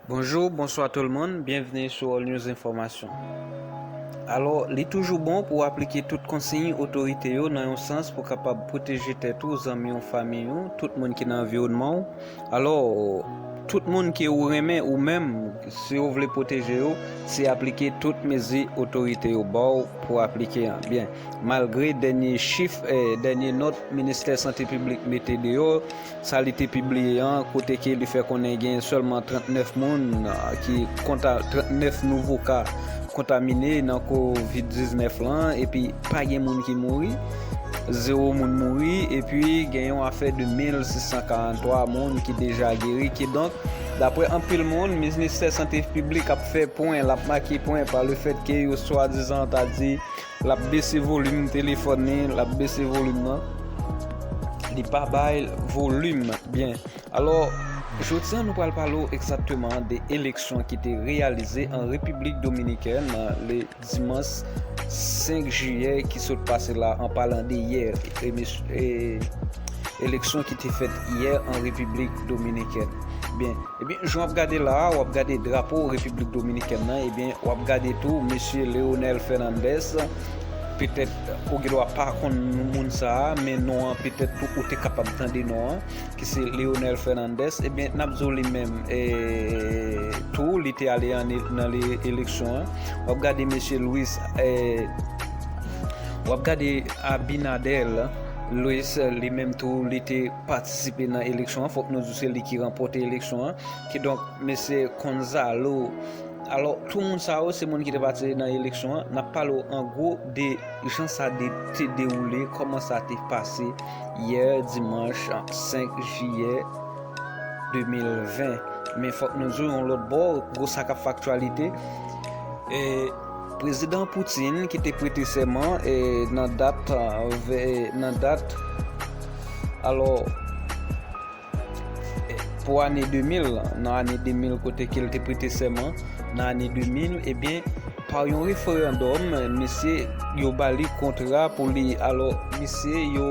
Bonjou, bonswa tout moun, byenvni sou All News Enfòmasyon. Alò, li toujou bon pou w aplike tout konsiy otorite yo nan yon sans pou kapab pwoteje tèt ou, zanmi w, famiy ou, tout moun ki nan anviwònman w. Alò, tout moun ke ou renmen ou menm, si ou vle pwoteje yo, se aplike tout mezi otorite yo ba w pou w aplike an. Byen, malgre dènye chif, dènye nòt Ministè Sante Piblik mete deyò, sa li te pibliye an kote ke li fè konnen genyen sèlman 39 moun ki konta 39 nouvo ka kontamine nan kovid 19 lan epi pa gen moun ki mouri zewo moun mouri epi gen yon afè de 1643 moun ki deja geri kidonk daprè anpil moun ministè sante piblik ap fè pwen lap make pwen pa le fèt ke yo swadizan ta di Lap bese volim telefòn li lap bese volim nan li pa bay volim byen alò jodi an nou pral pale ou egzakteman de eleksyon ki te reyalize an Repiblik Dominikèn le dimans 5 jiyè ki sot pase la an palan de yè eleksyon ki te fèt yè an Repiblik Dominikèn byen. Ebyen jan wap gade la a wap gade drapo repiblik dominikèn nan ebyen wap gade tou mesye Leonel Fernandez petèt ou gendwa pa konn moun sa a men non an petèt tou ou te kapab tande non an ki se Leonel Fernandez ebyen nap di w li menm tou li te ale nan eleksyon an wap gade mesye Louis wap gade Abinader Louis li menm tou li te patisipe nan eleksyon an fòk nou Se li ki ranpote eleksyon an. Kidonk, mesye Konzalo, alò, tou moun sa yo, se moun ki te patisipe nan eleksyon an. N ap pale w an gwo de jan sa te dewoule, kòman sa te pase yè dimanch 5 jiyè 2020. Men fòk nou di w yon lòt bò, gwo sa k ap fè aktyalite. Prezidan Putin ki te prete sèman nan dat nan dat alò pou ane 2000 nan ane 2000 kote ke l te prete sèman nan ane 2000 ebyen pa yon referandòm misye yo bali kontra pou li alò misye yo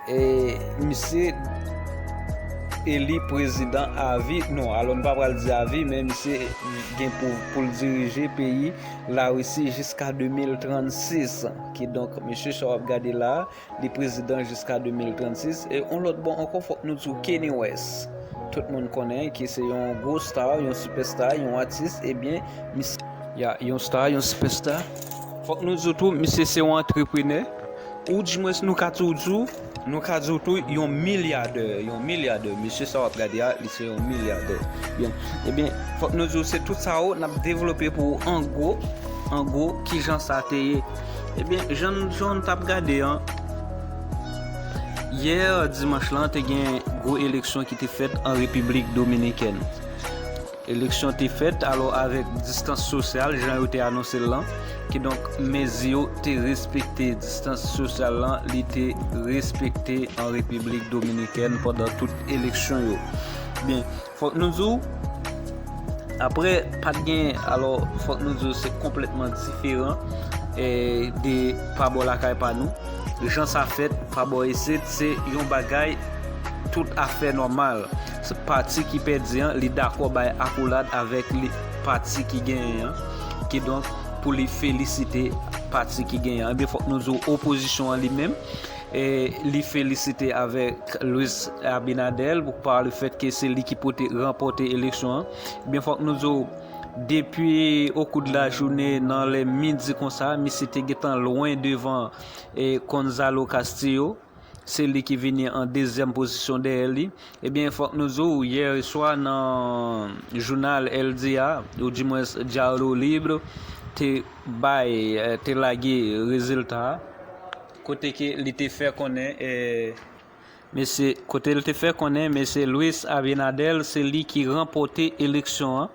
E misye eli prezidan avi, non alò nou pa pral di avi men misye gen pou l dirije peyi Larisi jiska 2036. Kidonk mesye sa w ap gade la a, li prezidan jiska 2036. E yon lòt bò ankò fòk nou di w Kanye West, tout moun konnen ki se yon gwo sta, yon sipèsta, yon atis ebyen misye. Ya, yon sta, yon sipèsta. Fòk nou di w tou misye se yon antreprenè. Oudjmwens nou ka tou di w, nou ka di w tou yon milyadè, yon milyadè. Mesye sa w ap gade a, li se yon milyadè. Byen, ebyen, fòk nou di w se tout sa yo, n ap devlope pou ou an gwo, an gwo, ki jan sa te ye. Ebyen, jan n, jan w t ap gade an, yè dimanch lan te gen gwo eleksyon ki te fèt an Repiblik Dominikèn. Eleksyon te fèt alò avèk distans sosyal jan yo te anonse l lan, kidonk mezi yo te respekte. Distans sosyal lan li te respekte an Repiblik Dominikèn pandan tout eleksyon yo. Byen, fòk nou di w, aprè pa t gen, alò fòk nou di w se konplètman diferan de pa bò lakay pa nou. Jan sa fèt pa bò isit se yon bagay tout afè nòmal. Pati ki pèdi an li dakò bay akolad avèk pati ki genyen an, kidonk pou li felisite pati ki genyen an. Ebyen fòk nou di w opozisyon an li menm li felisite avèk Luis Abinader pa le fèt ke se li ki pote ranpòte eleksyon an. Ebyen fòk nou di w depi okou de la joune nan lè midi konsa misye te gentan lwen devan Gonzalo Castillo. Se li ki vini an dezyèm pozisyon dèyè li. Ebyen fòk nou di w yè swa nan jounal El Dia ou di mwens Diario Libre te bay te lage rezilta a kote ke li te fè konnen mesye kote li te fè konnen mesye Luis Abinader se li ki ranpòte eleksyon an.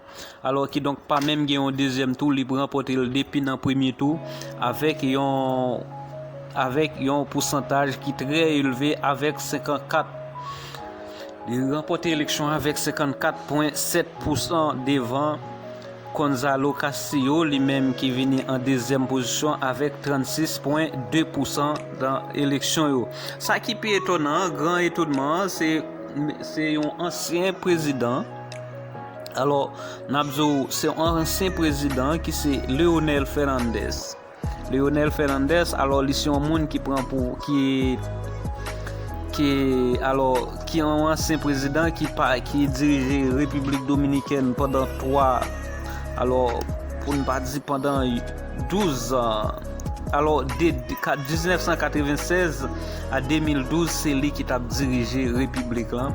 Alò kidonk pa menm gen yon dezyèm tou li pran pote l depi nan premye tou avèk yon avèk yon pousantaj ki trè elve avèk 54 li ranpòte eleksyon avèk 54 pwen 7 pousan devan Gonzalo Castillo li menm ki vini an dezyèm pozisyon avèk 36 pwen 2 pousan nan eleksyon yo. Sa ki pi etonan an, gran etonman an se yon ansyen prezidan. Alò, n ap di w, se yon ansyen prezidan ki se Leonel Fernandez. Leonel Fernandez, alò li se yon moun ki pran pou, ki, ki, alò, ki yon ansyen prezidan ki pa, ki dirije Repiblik Dominikèn pandan 3, alò, pou n pa di pandan 12 an. Alò, de 1996 a 2012, se li ki t ap dirije Repiblik lan.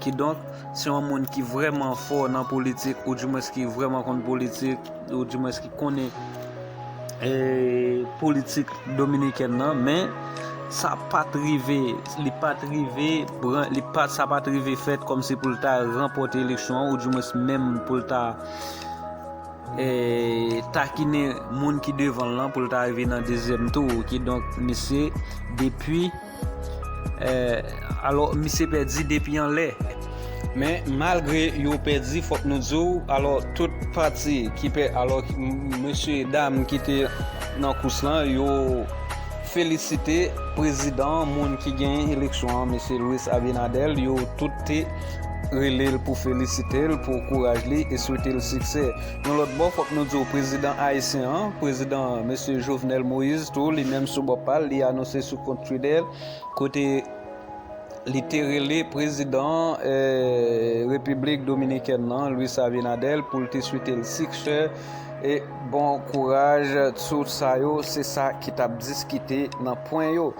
Kidonk, si yon moun ki vrèman fò nan politik, ou dimwens ki vrèman konn politik, ou dimwens ki konnen politik dominikèn nan, men, sa pa t rive, li pa t rive, sa pa t rive fèt kòm si pou l ta ranpòte eleksyon an, ou dimwens menm pou l ta takinen moun ki devan l lan, pou l ta rive nan dezyèm tou. Kidonk, misye, depi. Eh alò misye pèdi depi anlè. Men malgre yo pèdi fòk nou di w alò tout pati ki pè alò mesye dam ki te nan kous lan yo felisite prezidan moun ki genyen eleksyon an mesye Luis Abinader yo tout te rele l pou felisite l pou kouraj li e swete l siksè. Yon lòt bò, fòk nou di w prezidan ayisyen an, prezidan Mesye Jovenel Moise tou, li menm sou bò pa l, li anonse sou kont Twitter l, kote li te rele prezidan Repiblik Dominikèn nan, Luis Abinader, pou l te swete l siksè e bon kouraj. Tout sa yo, se sa ki t ap diskite nan pwen yo.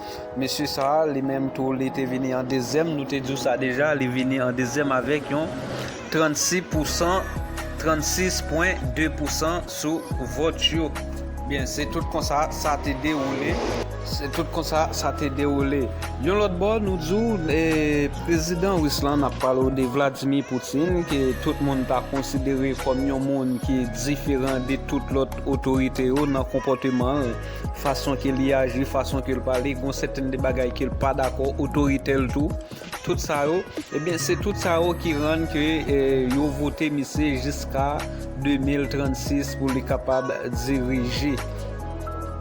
Mesye sa a, li menm tou, li te vini an dezyèm, nou te di w sa deja, li vini an dezyèm avèk yon 36 pousan, 36.2 pousan sou vòt yo. Byen, se tout konsa sa te dewoule. Se tout konsa sa te dewoule. Yon lòt bò, nou di w, prezidan ris lan, n ap pale w de Vladimir Putin, ke tout moun ta konsidere kòm yon moun ki diferan de tout lòt otorite yo nan konpòteman l, fason ke li aji, fason ke l pale, gen yon sèten de bagay ke l pa dakò, otoritè l tou. Tout sa yo, ebyen se tout sa yo ki rann ke yo vote misye jiska 2036 pou li kapab dirije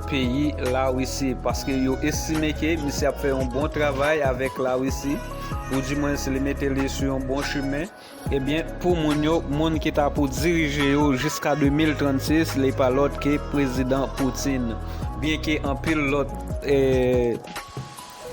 peyi Larisi. Paske yo estime ke misye ap fè yon bon travay avèk Larisi, ou di mwen si li mete li sou yon bon chimen. Ebyen pou moun yo, moun ki ta pou dirije yo jiska 2036 li pa lòt ke Prezidan Putin. Byenke anpil lòt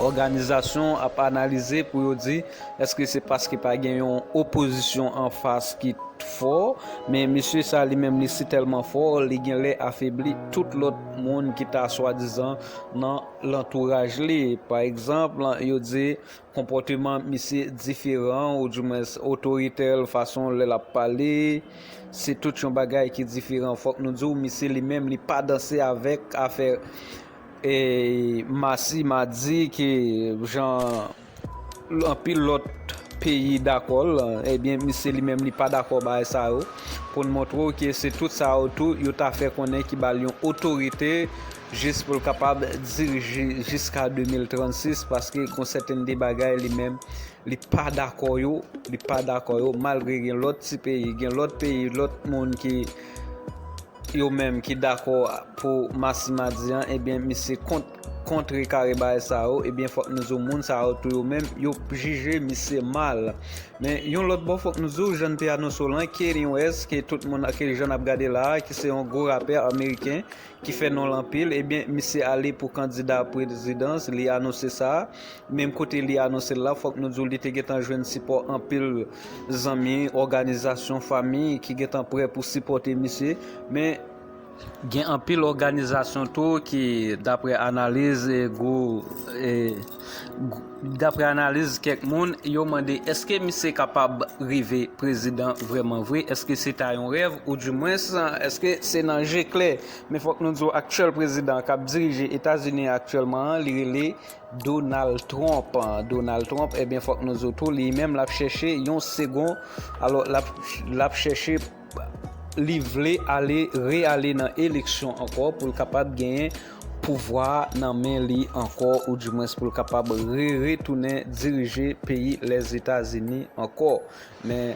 òganizasyon ap analize pou yo di eske se paske pa gen yon opozisyon anfas ki fò, men mesye sa li menm li si tèlman fò li gen lè afebli tout lòt moun ki ta swadizan nan lantouraj li. Pa egzanp, yo di Konpòteman misye diferan ou di mwens otoritèl fason lè lap pale se tout yon bagay ki diferan fòk nou diw misye li menm li pa danse avèk afè e masi madi ke jan anpil lòt peyi dakòl ebyen misye li menm li pa dakò bagay sa yo poun montrew ke se tout sa yo tou yo ta fè konnen ki bal yon otorite jis pou l kapab dirije jiska 2036 paske gon sèten de bagay li menm li pa dakò yo li pa dakò yo malgre gen lòt ti peyi gen lòt peyi lòt moun ki yo menm ki dakò pou masimadi an ebyen misye kont kontre kare bay sa yo ebyen fòk nou zo moun sa yo tou yo menm yo jije misye mal men yon lòt bò fòk nou zo jan te anonse w lan Kanye West ke tout moun jan n ap gade la ki se yon gwo rapè ameriken ki fè non l anpil, ebyen misye ale pou kandida prezidans, li anonse sa, menm kote li anonse l la fòk nou di w li te gentan jwenn sipò anpil zanmi, òganizasyon, fanmi ki gentan prè pou sipòte misye, men gen anpil òganizasyon tou ki daprè analiz gwo. Daprè analiz kèk moun, yo mande eske misye kapab rive prezidan vrèman vre, eske se ta yon rèv ou di mwens eske se nan je klè. Men fòk nou di w aktyèl prezidan k ap dirije Etazini an aktyèlman an li rele Donald Trump. Donald Trump ebyen fòk nou di w tou li menm l ap chèche yon segon, alò l ap chèche. li vle ale re ale nan eleksyon ankò pou l kapab genyen pouvwa nan men li ankò ou di mwens pou l kapab re retounen dirije peyi lèzetazini ankò men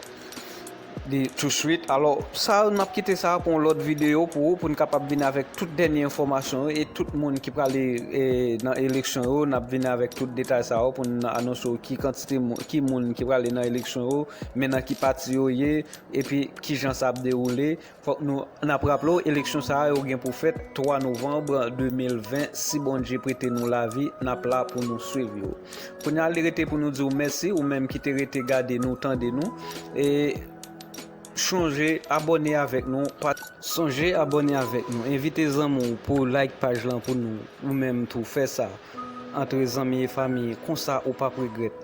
li tou swit alò sa n ap kite sa pou yon lòt videyo pou ou pou n kapab vini avèk tout dènye enfòmasyon yo e tout moun ki prale nan eleksyon yo n ap vini avèk tout detay sa yo pou n anonse w ki kantite moun ki prale nan eleksyon yo men nan ki pati yo ye Epi ki jan sa ap dewoule? Fòk nou n ap raple w eleksyon sa yo gen pou fèt 3 novanb 2020 si Bondye prete nou lavi n ap la pou nou swiv yo. Kounye a li rete pou nou di w mèsi ou menm ki te rete gade nou tande nou e chonje abòne avèk nou, sonje abòne avèk nou, envite zanmi w pou w like paj lan pou nou ou menm tou fè sa. Antre zanmi e fami konsa ou pap regrèt.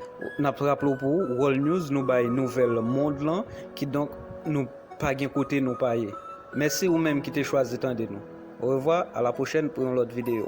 Nap raple w pou World News nou bay nouvèl mond lan kidonk nou pa gen kote nou pa ye. Mèsi ou menm ki te chwazi tande nou. Orevwa, a la pwochèn pou yon lòt videyo.